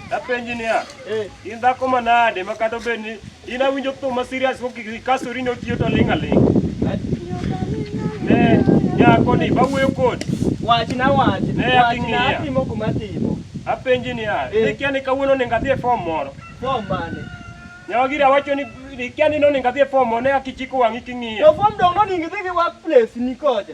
Japenji niya, in dhako manade ma kata obed ni In awinjo thum ma serious ko kasori ne otiyo to ling' aling'. Ne nyako ni bawuoyo kodi. Wachna wachna. Ne aking'iya. Wachna atimo kuma atimo. Apenji niya, Eh. ikia ni kawuono onego adhi e fom moro. Form mane? Nyawagira wacho ni ikia ni nonego adhi e fom moro ne akichiko wang'i To king'iya. form dong' noningi dhi gi workplace ni kocha.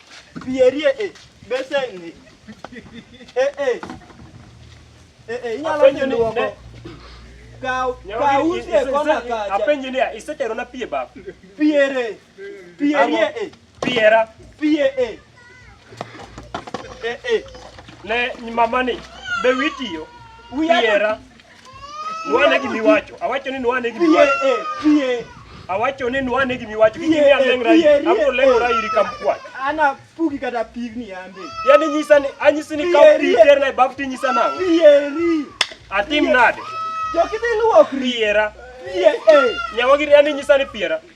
Bierie e eh, beseni. Eh eh. Eh eh inyalo penjo ni kaw kaw usie kona kacha. Apenjo ni isetero na pie bab. Piere. Pierie e. Eh. Piera. Pie e. Eh. Eh eh. Ne mamani be witiyo. Piera. Nwane gimi wacho. Awacho ni nwane gimi wacho. Pie, eh, pie. Awacho ni nwane gimi wacho. Gimi ni alengra yi. Abo lengra yi kam kwa. Ana pugi kata pig ni ambe. Yani nyisa ni anyisi ni ka pig ter na bafti nyisa na. Pie ri. Atim nade. Jokidhi luokri. Piera. Pie eh. Nyawagiri yani nyisa ni piera.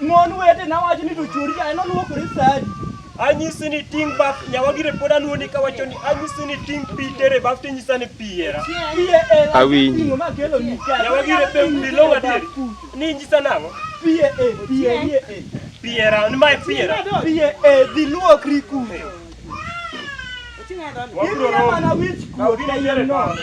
Mon wetena wacho ni to chori yaye noluokore sa adi? Anyisi ni ting' baf nyawagire pod aluoni kawacho ni anyisi ni ting' pi tere baf tinyisa ni pi era. Iye e Awinji. ting'o ma kelo ni ka. Nyawagire pe bilong' adier. Ni inyisa nang'o? Piye e, piye iye e. Pi era, ni mae pi era. Piye e, dhi luokri kuno. Wabiro Ibiro romo. mana wich Kaw kuot gini kayiem tere nono. kawano.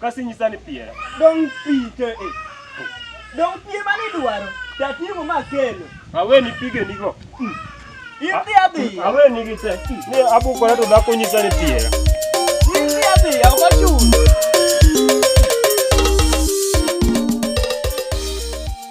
Kasi nyisa ni piera. Dong pite e. Dong pie mane idwaro. Tatimu ma kelo. Awe ni pige nigo. Hmm. Idhi adhi. Awe ni gite. Hmm. Ne abukora to dhako nyisa ni piera. Idhi adhi. Awachu.